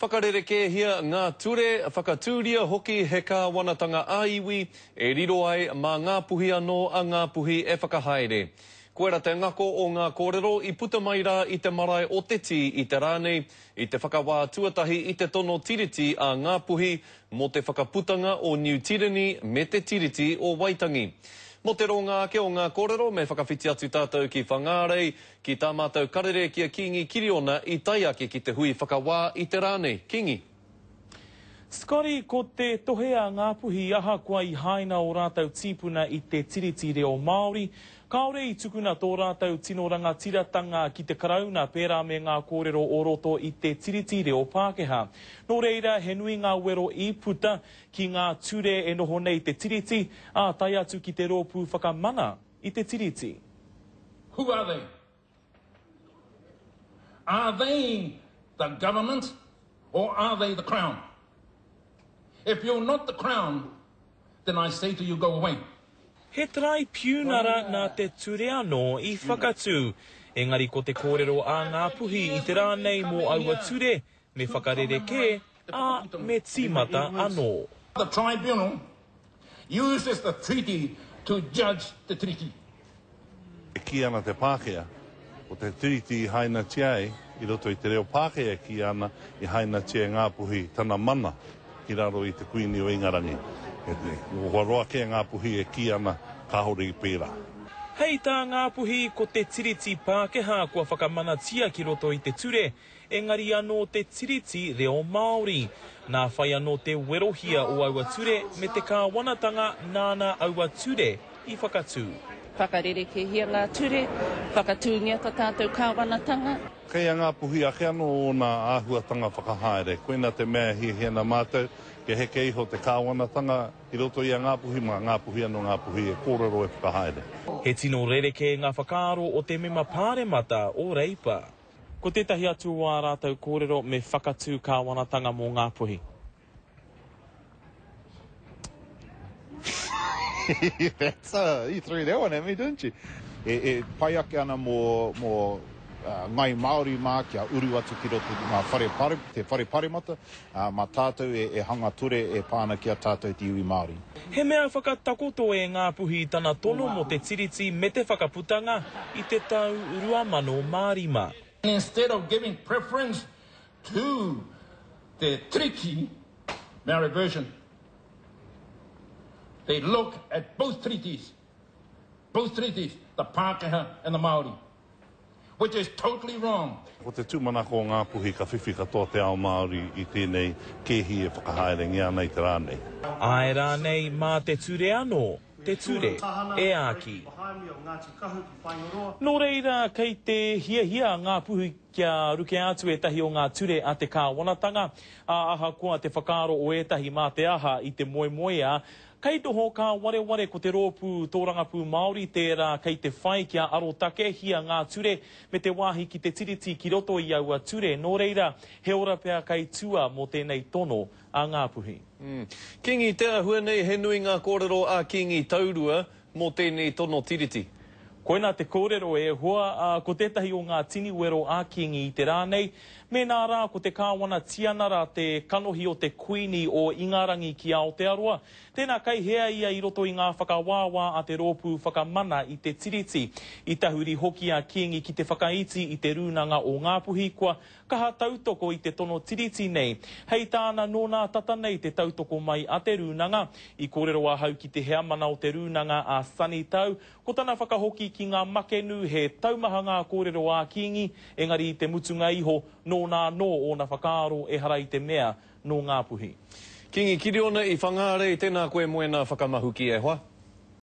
Whakarerekēhia ngā ture, whakatūria hoki he kāwanatanga ā-iwi e riro ai mā Ngā Puhi anō a Ngā Puhi e whakahaere. Koirā te ngako o ngā kōrero i puta mai rā i te marae o Te Tī i te rā nei, i te whakawā tuatahi i te tono Tiriti a Ngā Puhi mō te whakaputanga o Niu Tireni me te Tiriti o Waitangi. Mō te rōngā ake o ngā kōrero, me whakawhiti atu tātou ki Whangārei, Ki tā mātou karere ki a Kīngi Kiriona i tae ake ki te hui whakawā i te rā nei. Kīngi. Scotty, ko te tohe a Ngāpuhi ahakoa i haina ō rātou tīpuna i te Tiriti Reo Māori, kāore i tukuna tō rātou tino rangatiratanga ki te Karauna pērā me ngā kōrero o roto i te Tiriti Reo Pākehā. Nō reira, he nui ngā wero i puta ki ngā ture e noho nei te Tiriti, ā, tae atu ki te Rōpū Whakamana. i te Tiriti. Who are they? Are they the government or are they the Crown? If you're not the Crown, then I say to you go away. He taraipiunara nā te ture anō i whakatū, engari ko te kōrero a Ngāpuhi i te rā nei mō aua ture, Me whakarerekē, ā, me tīmata anō. The Tribunal uses the Treaty to judge the Treaty. E kī ana te Pākehā, ko te Tiriti i hainatia ai, i roto i te reo Pākehā e kīia ana, i hainatia e Ngāpuhi tana mana ki raro i te Kuini o Ingarangi. He hoa roa kē Ngāpuhi e kī ana kāore i pērā. Hei tā Ngāpuhi, ko te Tiriti Pākehā kua whakamanatia ki roto i te ture, Engari anō te Tiriti reo Māori. Nā whai anō te werohia o aua ture me te kāwanatanga nāna aua ture i whakatū. Whakarerekēhia ngā ture, whakatūngia tā tātou kāwanatanga. Kei a Ngāpuhi ake anō ōna āhuatanga whakahaere. Koina te mea e hiahia ana mātou, kia heke iho te kāwanatanga i roto i a Ngāpuhi, mā Ngāpuhi anō Ngāpuhi e kōrero e whakahaere. He tino rerekē ngā whakaaro o te mema pāremata o Reipa. Ko tētahi atu o ā rātou kōrero me whakatū kāwanatanga mō Ngāpuhi. That's a, you threw that one at me, didn't you? E, e pai ake ana mō, mō uh, ngai Māori mā kia uru atu ki roto ngā whare pare, te whare paremata, Ā, mā tātou e hanga ture e pā ana ki a tātou te iwi Māori. He mea whakatakoto e Ngāpuhi tana tono mō te Tiriti me te Whakaputanga i te tau 2005. Instead of giving preference to te Tiriti, Maori version, they look at both Tiritis, both Tiritis, the Pākehā and the Māori. which is totally wrong. Ko te tūmanako o Ngāpuhi ka whiwhi katoa te ao Māori i tēnei kēhi e whakahaerengia ana i te rā nei. Āe rānei, mā te ture anō, te ture, e āki. Nō reira, kei te hiahia a Ngāpuhi kia rukea atu ētahi o ngā ture a te kāwanatanga, ā, ahakoa te whakaaro o ētahi mā te aha i te moemoeā, Kei noho kā wareware ko te rōpū tōrangapū Māori tērā kei te whai kia arotakehia ngā ture me te wāhi ki te Tiriti ki roto i aua ture nō reira he ora pea kei tua mō tēnei tono a Ngāpuhi. Kīngi Te Ahua nei he nui ngā kōrero a Kīngi Taurua, Mō tēnei tono Tiriti. Koinā te kōrero e hoa, ā, ko tētahi o ngā tini wero a Kīngi i te rā nei, mēnā rā ko te Kāwana Tianara te kanohi o te Kuini o Ingarangi ki Aotearoa, tēnā kei hea ia i roto i ngā whakawāwā a te Rōpū Whakamana i te Tiriti. I tahuri hoki a Kīngi ki te whakaiti i te Rūnanga o Ngāpuhi kua Kaha tautoko i te tono tiriti nei. Hei tāna, nō nā tata nei te tautoko mai a Te Rūnanga. I kōrero ahau ki te heamana o Te Rūnanga a Sonny Tau, ko tana whakahoki ki ngā makenu he taumaha ngā kōrero ā Kīngi, engari i te mutunga iho, nōna anō ōna whakaaro ehara i te mea nō Ngāpuhi. Kīngi Kiriona i Whangārei, tēnā koe moena whakamahuki e hoa.